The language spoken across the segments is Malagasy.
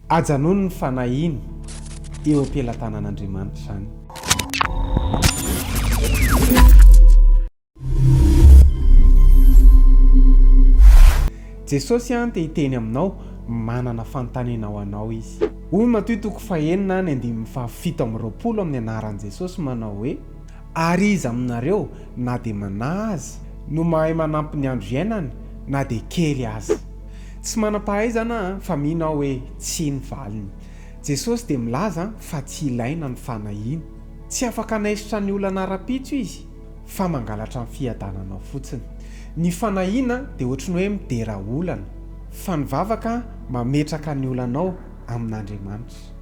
Ajanony ny fanahiny eo am-pelatanan'Andriamanitra izany. Jesosy an te hiteny aminao, manana fanontaniana ho anao Izy. Hoy Matoy toko fahenina any andininy fahafito amby roapolo amin'ny anaran'i Jesosy manao hoe, Ary iza aminareo, na dia manahy aza, no mahay manampy ny andro iainany, na dia kely aza? Tsy manam-pahaizana aho fa mino aho hoe tsia ny valiny. Jesosy dia milaza fa tsy ilaina ny fanahiana. Tsy afaka hanaisotra ny olana ara-pitso Izy fa mangalatra ny fiadananao fotsiny. Ny fanahiana dia ohatry ny hoe midera olana, fa ny vavaka mametraka ny olanao amin'Andriamanitra.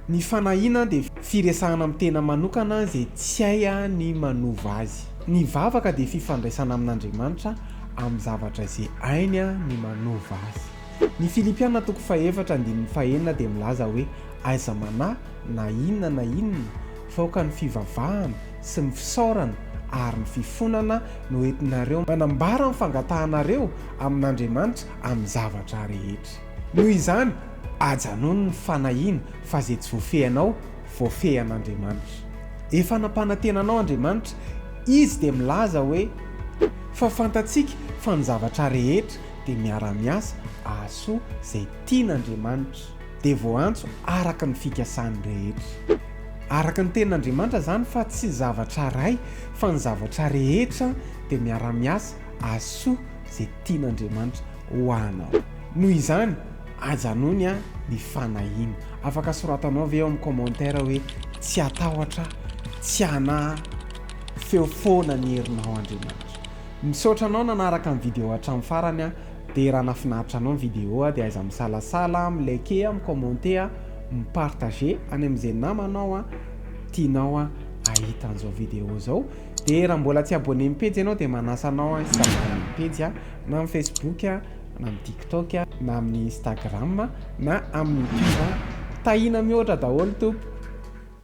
Ny fanahiana dia firesahana amin'ny tena manokana izay tsy hay ny manova azy. Ny vavaka dia fifandraisana amin'Andriamanitra amin'ny zavatra izay hainy ny manova azy. Ny Filipiana toko fahefatra andininy fahenina dia milaza hoe aiza manahy na inona na inona fa aoka ny fivavahana sy ny fisaorana ary ny fifonana no entinareo manambara ny fangatahanareo amin'Andriamanitra amin'ny zavatra rehetra. Noho izany, ajanao ny fanahiana fa izay tsy voafehinao, voafehin'Andriamanitra. Efa nampanantena anao Andriamanitra, Izy dia milaza hoe, Fa fantatsika fa ny zavatra rehetra dia miara-miasa ahasoa izay tian'Andriamanitra, dia voaantso araka ny fikasany rehetra. Araka ny tenin'Andriamanitra izany fa tsy zavatra iray fa ny zavatra rehetra dia miara-miasa ahasoa izay tian'Andriamanitra. ho anao. Noho izany, ajanony an ny fanahiana. Afaka soratanao ve ao amin'ny commentaire hoe tsy atahotra, tsy anahy, feo foana ny herinao Andriamanitra. Misaotra anao nanaraka ny video hatramin'ny farany an, dia raha nafinaritra anao ny video dia aiza misalasala, mi like, mi commenter, mi partager any amin'izay namanao an tianao an ahita an'izao video izao. Dia raha mbola tsy abonné amin'ny pejy ianao dia manasa anao an hi-s'abonner amin'ny pejy an, na amin'ny Facebook an, na amin'ny TikTok an, na amin'ny Instagram an, na amin'ny YouTube an. Tahiana mihoatra daholo tompoko.